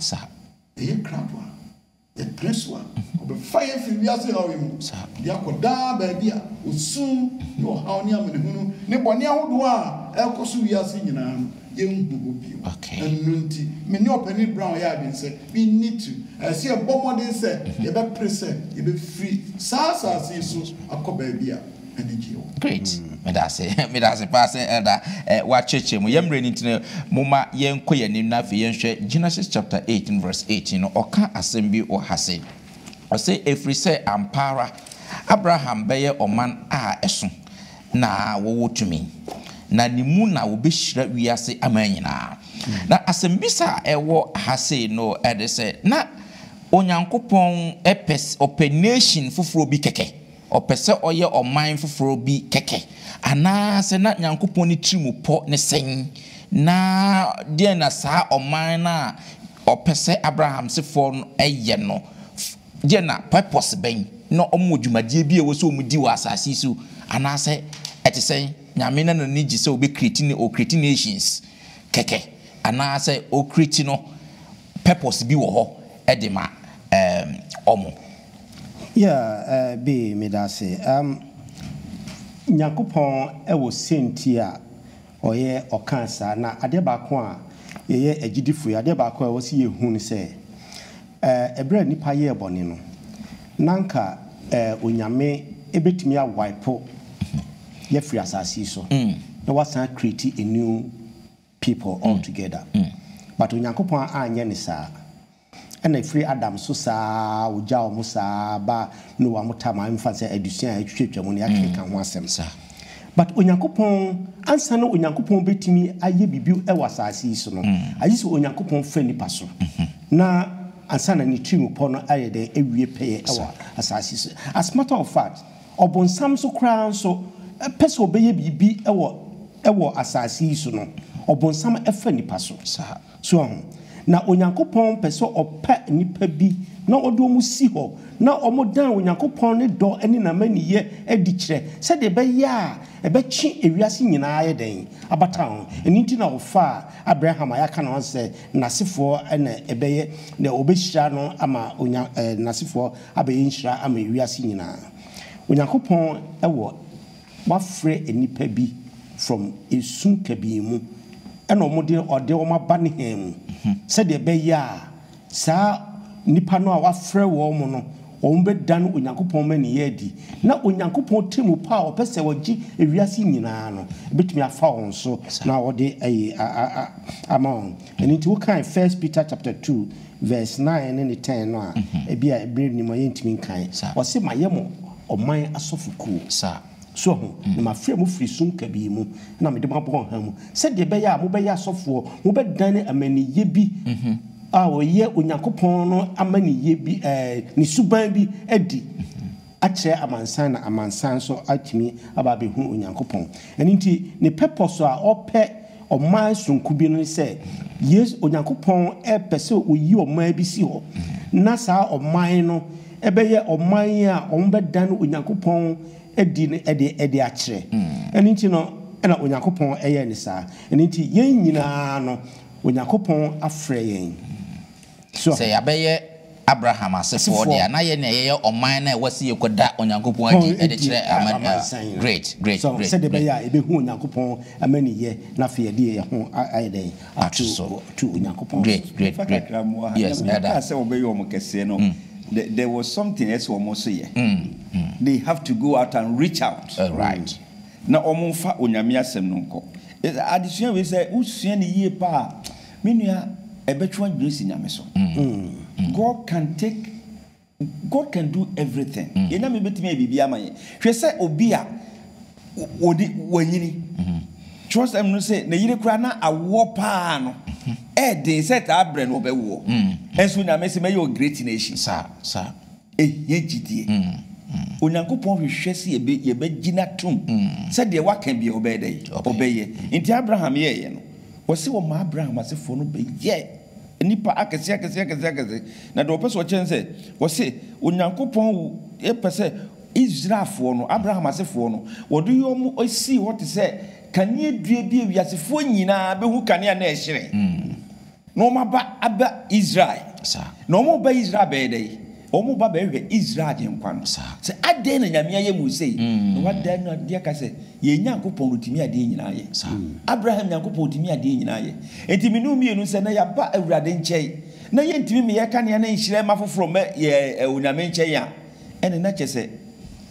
S4: Ɛyɛ krado a yɛpene so a ɔbɛfa yɛn afiri wiase haw yi mu de akɔ daa baabi a osu ne ɔhaw ne amanehunu ne bɔne ahodoɔ a ɛrekɔ so wiase nyinaa no yɛnhu hɔ bio. Ɛno nti, me ne Ɔpanin Brown yɛɛ adwene sɛ, we need to, ɛsɛ sɛ yɛbɔ mmɔden sɛ yɛbɛpere sɛ yɛbɛfiri saa asase yi so akɔ baabi a anigyeɛ wɔ. Great. Meda
S1: ase. Meda ase paa sɛ Elder eh, woakyerɛkyerɛ mu. Yɛn mmerɛ no nti no, momma yɛnkɔ yɛn anim na afei yɛnhwɛ Genesis chapter 18 verse 18 no. Ɔka asɛm bi wɔ ha se, ɔse, Ɛfiri sɛ ampa ara Abraham bɛyɛ ɔman a ɛso. na wɔwɔ tumi, na ne mu na wɔbɛhyira wiase aman nyinaa. Na asɛmmisa a ɛwɔ ha sei no de sɛ, na Onyankopɔn pɛ, ɔpɛ nation foforɔ bi kɛkɛ? Ɔpɛ sɛ ɔyɛ ɔman foforɔ bi kɛkɛ? Anaasɛ na Nyankopɔn ne tirim pɔ ne sɛn? Na deɛn na saa ɔman no a ɔpɛ sɛ Abraham sefoɔ no yɛ no Gye na purpose bɛn na wɔn wɔ dwumadie bi a ɛwɔ sɛ wɔn di wɔ asaase yi so anaa sɛ ɛte sɛn? Nyame na n'ani gye sɛ ɔbɛ create ne ɔ create nations kɛkɛ anaa sɛ ɔ create no purpose bi wɔ hɔ de ma ɛɛm wɔn?
S3: Yeah eh bee medase. Ɛɛm Nyankopɔn wɔ sɛnti a Ɔyɛ, ɔkaa saa. Na adeɛ baako a yɛyɛ agyidifo yi, adeɛ baako a ɛwɔ sɛ yɛhu ne sɛ, ɛɛ, berɛ a nnipa yɛɛ bɔne no, na anka, ɛɛ, Onyame bɛtumi a wipe yɛ afiri asase yi so na wasan a create a new people all together. But Onyankopɔn anyɛ no saa. Ɛna ɛfiri Adam so saa ara ɔgyaa wɔn saa ara baa Noa mo time a ɛmfa sɛ adesua a atwitwatwa mu no yɛakeka ho asɛm. But Onyankopɔn ansa na Onyankopɔn bɛtumi ayɛ biribi wɔ asase yi so no agye sɛ Onyankopɔn fa nnipa so na ansa na ne tirim pɔ no ayɛ dɛn awie pɛyɛ wɔ asase yi so. As matter of fact ɔbonsam nso koraa nso pɛ sɛ ɔbɛyɛ biribi wɔ wɔ asase yi so no ɔbonsam fa nnipa so. So ahu? Na Onyankopɔn pɛ sɛ ɔpa nnipa bi na ɔde wɔn si hɔ na wɔdan Onyankopɔn ne dɔ ne n'amanniyɛ adi kyerɛ, sɛdeɛ ɛbɛyɛ a ɛbɛtwe ewiase nyinaa ayɛ dɛn? abata ho. Ɛno nti na wɔfaa Abraham a yɛaka ne ho asɛm sɛ n'asefoɔ na ɛbɛyɛ, na wɔbɛhyira no ama onya, ɛ, n'asefoɔ abɛyɛ nhyira ama ewiase nyinaa. Onyankopɔn wɔ. Wafrɛ nnipa bi from esu kabii mu ɛna ɔmo de ɔde ɔmo aba ne hɛn mu sɛdeɛ ɛbɛyɛ a saa nnipa no a wafrɛ wɔn no ɔmo bɛdan Onyankopɔn mmaninyɛ adi na Onyankopɔn tɛmmupa a ɔpɛ sɛ ɔgye ewiase nyinaa no ɛbɛtumi afa wɔn so na ɔde ayi ama wɔn. Ɛno nti wokae First Peter chapter two verse nine ne ne ten no a ɛbia ɛberɛ nnim a yɛntumi nkae. Ɔse mayɛ mo. Ɔman asɔfokuo. Saa. So ahu? Na mafrɛ mo firi sum kabii mu na mede mo abɔ ɔhan mu, sɛdeɛ ɛbɛyɛ a mobɛyɛ asɔfoɔ, mobɛdane amaniyɛ bi a ɔyɛ Onyankopɔn no amaniyɛ bi, ɛɛ, ne suban bi adi akyerɛ amansan na amansan nso atumi aba abɛhunu Onyankopɔn. Ɛno nti, ne pɛpɔs a ɔpɛ Ɔman soronko bi no ne sɛ Yesu, Onyankopɔn pɛ sɛ ɔyi ɔman bi si hɔ, na saa ɔman no bɛyɛ ɔman a wɔbɛdane Onyankopɔn adi no de de akyerɛ. Ɛno nti no, na Onyankopɔn yɛ no saa. Ɛno nti, yɛn nyinaa no, Onyankopɔn afrɛ yɛn. Sɛ yɛabɛyɛ
S1: Abraham asefoɔ deɛ a, na yɛn na yɛyɛ ɔman no a ɛwɔ sɛ yɛkɔda Onyankopɔn adi de kyerɛ aman. Great, great, great. Sɛdeɛ ɛbɛyɛ a
S3: yɛbɛhu Onyankopɔn amaniyɛ na afei yɛde yɛn ho ayɛ dɛn? Ato so. Ato Onyankopɔn so. Great, great, great. Mefa
S1: kakra mmoa ha. Yes, ɛda. Wɔkaa sɛ wɔbɛyɛ
S2: wɔn kɛseɛ no, the, there was something ɛsɛ wɔn nso yɛ. They have to go out and reach out. Right.
S1: Na wɔn mfa
S2: Onyame asɛm no nkɔ. Adesua wei sɛ wosua no yie paa a, Me nua ɛbɛtwe adwene asi Nyame so. God can take God can do everything. Yɛn Nyame bɛtumi ayɛ biribiara ama yɛn. Hwɛ sɛ obi a ɔde wanyini. Twerɛsɛm no se ne yere koraa na awoɔ paa no ɛɛden sɛ taa berɛ no ɔbɛwoɔ. Nso Nyame se mɛyɛ wo great nation. Saa saa.
S1: Ehia
S2: gyidie. Onyankopɔn hwehwɛ sɛ yɛbɛgye no atom sɛ deɛ waka biara ɔbɛyɛ dɛn? Ɔbɛyɛ. Nti Abraham yɛeɛ no, wɔse wɔmaa Abraham asefoɔ no bɛyɛɛ nnipa akɛseɛ akɛseɛ akɛseɛ akɛseɛ. Na deɛ wɔpɛ sɛ wɔkyerɛ ne sɛ, wɔse Onyankopɔn pɛ sɛ Israelfoɔ no, Abraham asefoɔ no, wɔde wɔn sii hɔ te sɛ kaneadua bi a wiasefoɔ nyinaa bɛhu kanea na ɛhyerɛn. Na wɔn aba aba Israel. Na wɔn ba Israel bɛyɛ dɛ? Wɔn ba bɛhwɛ Israel Agyenkwa no. Sɛ adɛn na Nyame ayɛ mu sei? Na wada no adi aka sɛ, Yɛn Nyankopɔn no Otumi adeɛ nyinaa yɛ. Abraham Nyankopɔn Otumi adeɛ nyinaa yɛ. Enti me ne wo mmienu nsɛ na yɛaba Awurade nkyɛn, na yɛntumi mmeyɛ kanea ne nhyerɛn mma foforɔ mmɛ yɛn Onyame nkyɛn a, Ɛne na kyɛ sɛ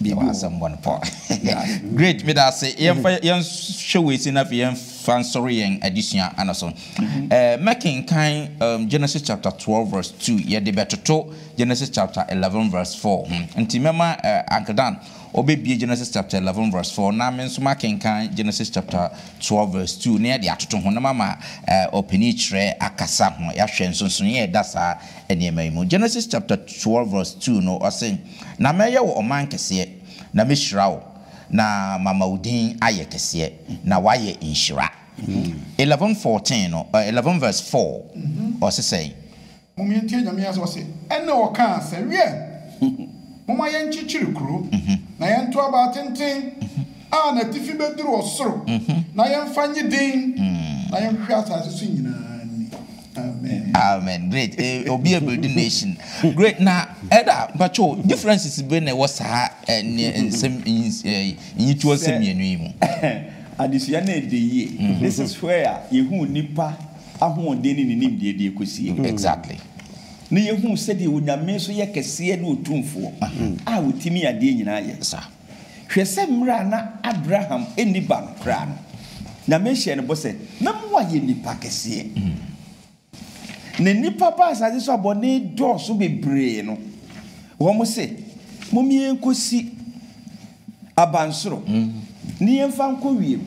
S2: biribi wɔ
S1: hɔ. Great, meda ase. Yɛmfa yɛnhwɛ wei sei na afei yɛmfa nsɔre yɛn adesua ano so. Mɛkenkan Genesis chapter twelve verse two, yɛde bɛtoto Genesis chapter eleven verse four ho. Nti mɛma Uncle Dan ɔbɛbue Genesis chapter eleven verse four na me nso makenkan Genesis chapter twelve verse two na yɛde atoto ho na mama ɔpanin kyerɛ akasa ho. Yɛahwɛ nsonsonoeɛ a ɛda saa nneɛma yi mu. Genesis chapter twelve verse two no, ɔse, Na mɛyɛ wo ɔman kɛseɛ, na mɛhyira wo, na mama wo din ayɛ kɛseɛ, na woayɛ nhyira. Eleven fourteen no, ɛ, eleven verse four, ɔse sɛn? Mom yɛntie
S4: Nyame asɛm ɔse, Ɛnna ɔkaa sɛ, Wiɛ! Momma yɛnkyekyere kuro, na yɛnto abaa tenten a n'atifi bɛduru ɔsoro, na yɛmfa nnye din, na yɛnhwehwɛ asase so nyinaa ni. Amen
S1: amen great eh, obi yɛ build nation great na ɛda mpatsɔ differences bɛ na ɛwɔ saa ɛ ne nsɛm ɛ nyituo nsɛm mmienu yi mu. Adesua
S2: no ɛdɛ yie. Mm-hmm. This is where a yɛhu nipa ahoɔden ne ne nimdeɛ deɛ kɔsie. Exactly.
S1: Na yɛhu
S2: sɛdeɛ onyame nso yɛ kɛseɛ ne otumfoɔ a ɔtumi adeɛ nyinaa yɛ. Saa. Hwɛ
S1: sɛ mmerɛ
S2: a na Abraham nni ba no koraa no, Nyame hyɛɛ no bɔ sɛ, Mɛma woayɛ nipa kɛseɛ. Na nnipa baa asase so a bɔne dɔɔso bebree no, wɔn se, Mom yɛnkɔsi abansoro ne yɛmfa nkɔ wiem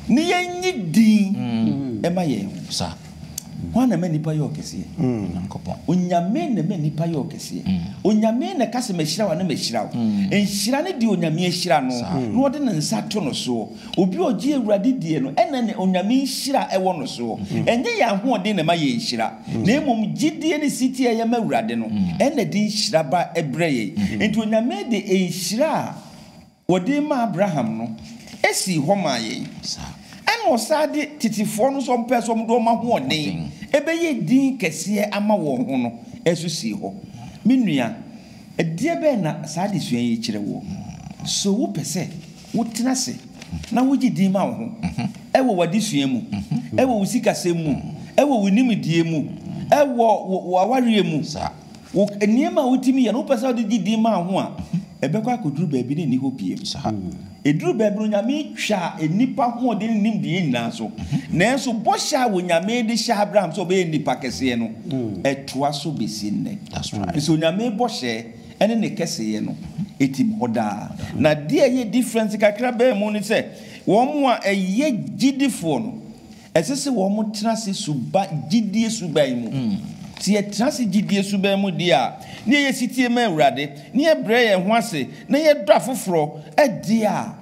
S2: ne yɛnyi din mma yɛn ho.
S1: Hwan na ɛma
S2: nnipa yɛ ɔkɛseɛ? Onyankopɔn.
S1: Onyame na ɛma
S2: nnipa yɛ ɔkɛseɛ. Onyame na ɛka sɛ mahyira wo anaa mahyira wo. Nhyira no deɛ Onyame ahyira no na ɔde ne nsa to no soɔ. Obi a ɔgye Awurade die no, ɛna na Onyame nhyira wɔ no soɔ. Ɛnyɛ yɛn ahoɔden na ɛma yɛn nhyira, na mmom gyedie ne setie a yɛma Awurade no, ɛna ɛde nhyira ba brɛ yɛn. Enti Onyame de nhyira a. wɔde maa Abraham no sii hɔ maa yɛn, ɛnna ɔsan de tetefoɔ no nso a wɔpɛɛ sɛ wɔde wɔn ahoɔden bɛyɛ edin kɛseɛ ama wɔn ho no nso sii hɔ. Me nua, ɛdeɛ bɛn na saa adesua yi kyerɛ woɔ? So wopɛ sɛ wotena ase na wogye din ma wo ho wɔ w'adesua mu, wɔ wo sikasɛm mu, wɔ wo nimdeɛ mu, wɔ wo awareɛ mu, Wo nneɛma a wotumi yɛ no, wopɛ sɛ wode gye din ma wo ho a, ɛbɛkɔ akɔduru baabi na ɛnni hɔ bio. Ɛduru baabi no, Onyame twa nnipa hoɔden ne nimdeɛ nyinaa so. Nanso bɔhyɛ a Onyame de hyɛɛ Abraham sɛ ɔbɛyɛ nnipa kɛseɛ no, ɛtoa so bɛsi nnɛ. Ɛfiri sɛ Onyame bɔhyɛ ne ne kɛseyɛ no, ɛtim hɔ daa. Na deɛ ɛyɛ difference kakra bɛn mu ne sɛ, wɔn a ɛyɛ gyidifoɔ no, Ɛsɛ sɛ wɔtra ase suban, gyidie suban mu. Sɛ yɛtra ase gyidie suban mu deɛ a, na yɛyɛ setie ma Awurade, na yɛbrɛ yɛn ho ase, na yɛdɔ afoforɔ deɛ a,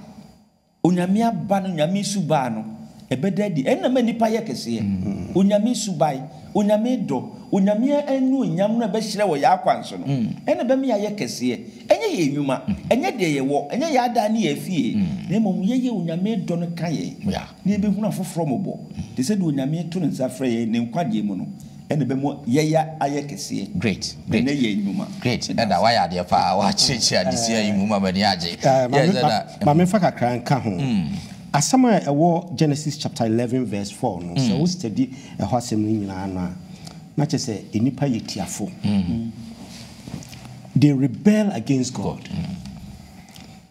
S2: Onyame aba no, Onyame suban no, ɛbɛda adi. Ɛno na ɛma nnipa yɛ kɛseɛ. Onyame suban, Onyame dɔ, Onyame annuonyam no a ɛbɛhyerɛn wɔ yɛn akwan so no, ɛno na ɛbɛma yɛayɛ kɛseɛ. Ɛnyɛ yɛn nnwuma, ɛnyɛ deɛ yɛwɔ, ɛnyɛ yɛn adan ne yɛn afie, na mmom yɛyɛ Onyame dɔ no ka yɛn. na yɛbɛhunu afoforɔ mmɔbɔ te sɛ deɛ Onyame reto ne nsa frɛ yɛn ne nkwagyeɛ mu no, ɛna ɛbɛma yɛya ayɛ kɛseɛ. Great, great, Ɛnɛ yɛn
S1: nnwuma.
S2: Great, ɛda woayɛ adeɛ
S1: paa, woakyerɛkyerɛ adesua yi mu ma m'ani agye. Yes, ɛda. Ma
S3: memfa kakra nka ho. Asɛm a ɛwɔ Genesis chapter eleven verse four no, sɛ wo study ɛhɔ asɛm no nyinaa no a, na kyerɛ sɛ nnipa yɛ tiafo. They rebel against God.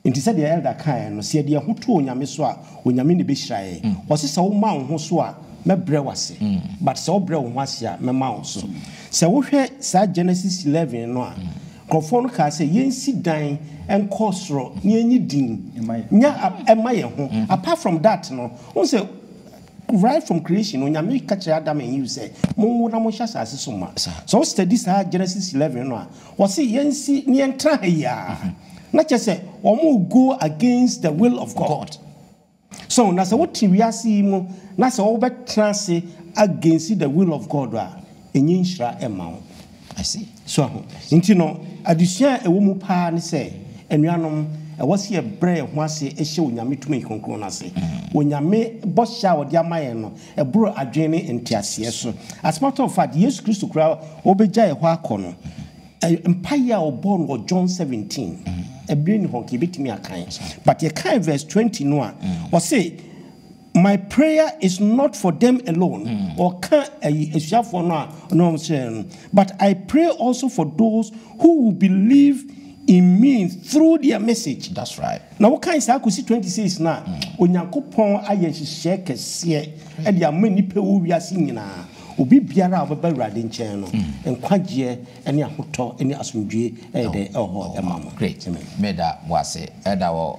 S3: Enti sɛdeɛ Elder kaeɛ no, sɛ yɛde yɛn ho to Onyame so a, Onyame na ɛbɛhyira yɛn. Ɔse sɛ wo ma wo ho so a, mɛbrɛ wo ase, but sɛ wo brɛ wo ho ase a, mɛma wo so. Sɛ wo hwɛ saa Genesis 11 no a, nkorɔfoɔ no kaa sɛ yɛnsi dan nkɔ soro na yɛnyi din nya ɛma yɛn ho. Apart from that no, wohu sɛ right from creation no, Onyame ka kyerɛɛ Adam and Eve sɛ, monwo na monhyɛ asaase so ma. Sɛ wo study saa Genesis 11 no a, Wɔse yɛnsi na yɛntra ha yi ara na kyerɛ sɛ wɔrego against the will of God. So na sɛ wote wiase yi mu na sɛ wobɛtra ase against the will of God a, ɛnyɛ nhyira mma wo.
S1: So ahu? Nti
S3: no, adesua a ɛwɔ mu paa ne sɛ, anuanom, ɛwɔ sɛ yɛbrɛ yɛn ho ase hyɛ Onyame tumi kronkron no ase. Onyame bɔhyɛ a ɔde ama yɛn no, Ɛboro adwene ne nteaseɛ so. As a matter of fact, Yesu Kristo koraa a ɔbɛgya yɛn hɔ akɔ no, mpaeɛ a ɔbɔɔ no wɔ John seventeen, ɛberɛ nni hɔ nka yɛbɛtumi akan, but yɛkan verse twenty no a, ɔse, My prayer is not for them alone, ɔka ayi asuafoɔ no a na wɔn srɛ no, but I pray also for those who will believe in me through their message. That's right. Na wokan
S1: saa kosi
S3: 26 no a, Onyankopɔn ayɛ nhyehyɛɛ kɛseɛ de ama nnipa wɔ wiase nyinaa. Obi biara a ɔbɛba Awurade nkyɛn no, nkwagyeɛ ne ahotɔ ne asomdwoeɛ ɛyɛ dɛn? Ɛwɔ hɔ ma no. Great. Amen. Meda
S1: mo ase. Ɛda wɔ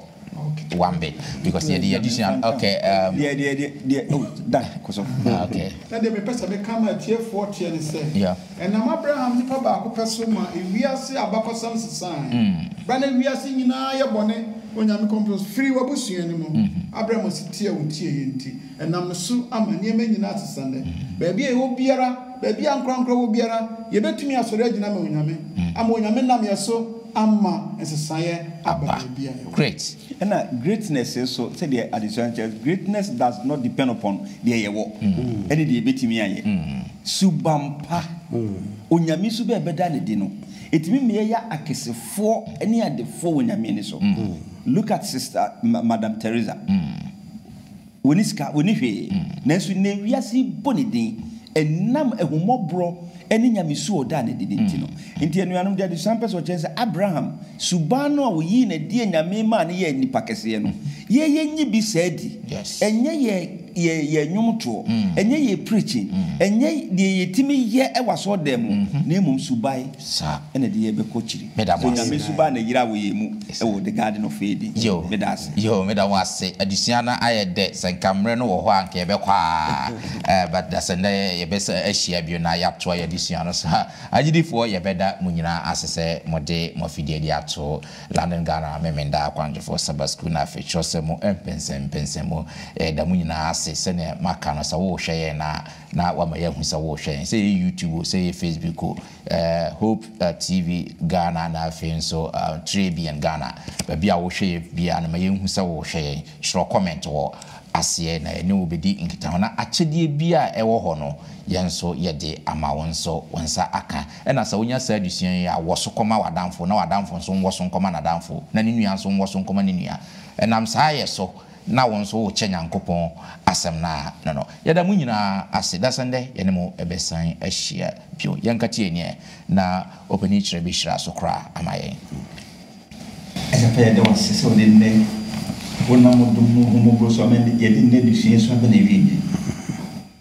S1: Wambe because yɛde yɛ adesua no. Okay. Um, Deɛ, deɛ, deɛ, deɛ, oh,
S2: Dan, kɔ so. Ah, okay. Na deɛ
S1: mepɛ sɛ meka
S4: ma atiefoɔ teɛ ne sɛ, Yeah. Ɛnam Abraham nipa baako pɛ so ma wiase abakɔsɛm sesae. Bere a na wiase nyinaa yɛ bɔne onyame kɔmpɔs firi w'abusua no mu. Abraham asetie a otieɛ nti, ɛnam ne so ama nneɛma nyinaa asesa nnɛ. Baabi a yɛwɔ biara, baabi a ankorankoro wɔ biara, yebetumi asɔre agyina ama onyame, ama onyame nam yɛn so ama nsesaeɛ aba baabi a yɛwɔ. Ɛna
S1: greatness
S2: nso, sɛdeɛ adesua no kyerɛ, greatness does not depend upon deɛ yɛwɔ ɛne deɛ yɛbɛtumi ayɛ. Suban pa, Onyame su bɛ yɛbɛda no adi no, ɛtumi ma yɛyɛ akesefoɔ ne adefoɔ wɔ Nyame ani so. Look at Sister, Madam Teresa. Wɔnni sika, wɔnni hwee, nanso nnɛ wiase yi bɔ ne din ɛnam ahummɔborɔ ne nyamesu a ɔdaa no adi no nti no. Enti anuanom, deɛ adesuaeɛ no pɛ sɛ ɔkyerɛ ne sɛ, Abraham, suban no a ɔyii no adie nyame maa no yɛɛ nipa kɛseɛ no, yɛn yɛnyi bi saa di. Ɛnyɛ yɛn yɛn nnwomtoɔ, ɛnyɛ yɛn preaching, ɛnyɛ deɛ yɛtumi yɛ wɔ asɔredan mu, na mmom suban. Saa na ɛde yɛ bɛ kɔ kyiri. Meda mo ase. Sɛ Nyame suba na yira wɔ yɛn mu wɔ the garden of Eden. Yo, Meda ase. Yo, meda mo ase. Adesua no ayɛ dɛ. Sɛ nka mmerɛ no wɔ hɔ a anka yɛbɛkɔ aa but da sɛ nnɛ yɛbɛsa ahyia bio na yɛatoa yɛn adesua no so. Agyidifoɔ yɛbɛda mo nyinaa ase sɛ mode mo afidie de ato London Ghana Memeneda Akwantufoɔ Sabbath School na afei twerɛsɛm mu mpɛnsɛmpɛnsɛmu. Yɛda mo nyinaa ase. Sɛdeɛ maka no sɛ wo rehwɛ yɛn no a, Na wama yɛahu sɛ worehwɛ yɛn, sɛ ɛyɛ YouTube o, sɛ ɛyɛ Facebook o, eh, Hope eh, TV Ghana na afei nso eh, Trebian Ghana. Baabi a wohwɛ yɛ biara no, ma yɛnhu sɛ worehwɛ yɛn. Twerɛ comment wɔ aseɛ na yɛne wo bɛdi nkitaho. Na akyɛdeɛ biara a ɛwɔ hɔ no, yɛn nso yɛde ama wo nso wo nsa aka. Ɛna sɛ wonya saa adesua yi a, wɔ so kɔma w'adamfo, na w'adamfo nso nwɔ so nkɔma n'adamfo, na ne nua nso nwɔ so nkɔma ne nua. Ɛnam saa yɛ so na wo nso wokyɛ Nyankopɔn asɛm no a, no no. Yɛda mo nyinaa ase, dasɛ ndɛ yɛne mo bɛsan ahyia bio. Yɛnka tie neɛ na Opanin Kyerɛ bɛhyira so koraa ama yɛn. Ɛsɛ pɛ yɛda wo ase sɛ wode nnɛ wonam wo dom ne wo ahummɔborɔ so ama nnɛ yɛde nnɛ adesua yi so aba n'awieɛ.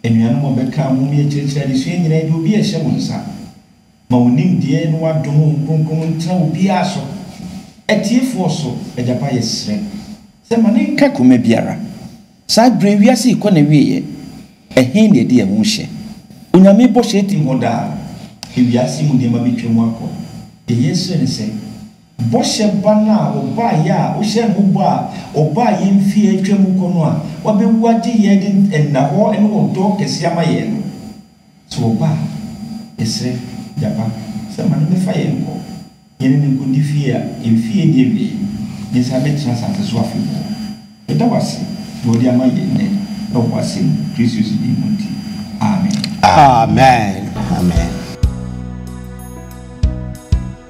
S2: Anuanom a wɔbɛkaa ho, moyɛ kyerɛkyerɛ adesua nyinaa, yɛde obi rehyɛ mo nsa. Ma wo nimdeɛ ne w'adom honhom kronkron no ntena obiara so, atiefoɔ so, Agyapa yɛsrɛ Sɛ ma ne nka koma biara, saa berɛ yi wiase rekɔ n'awieɛ, ɛhe na yɛde yɛn ho rehyɛ? Onyame bɔhyɛ tim hɔ daa, ewiase mu nneɛma bɛtwam akɔ, deɛ yɛsrɛ ne sɛ, bɔhyɛ ba no a ɔbaeɛ a wohyɛɛ ne ho bɔ a ɔbaeɛ mfeɛ a atwam rekɔ no a wabɛwu agye yɛn de nna hɔ ne ɔdɔ kɛseɛ ama yɛn no, Sɛ ɔba a, yɛsrɛ, Gyapa, sɛ ma no mɛfa yɛn nkɔ, yɛne no nkɔdi fie a mfeɛ nni awiei, na yɛsan bɛtena asase so afebɔɔ. Yɛda wo ase deɛ wode ama yɛn nnɛ wɔ w'Asɛm mu, Kristo Yesu
S3: din mu
S2: nti, amen. Amen. Amen.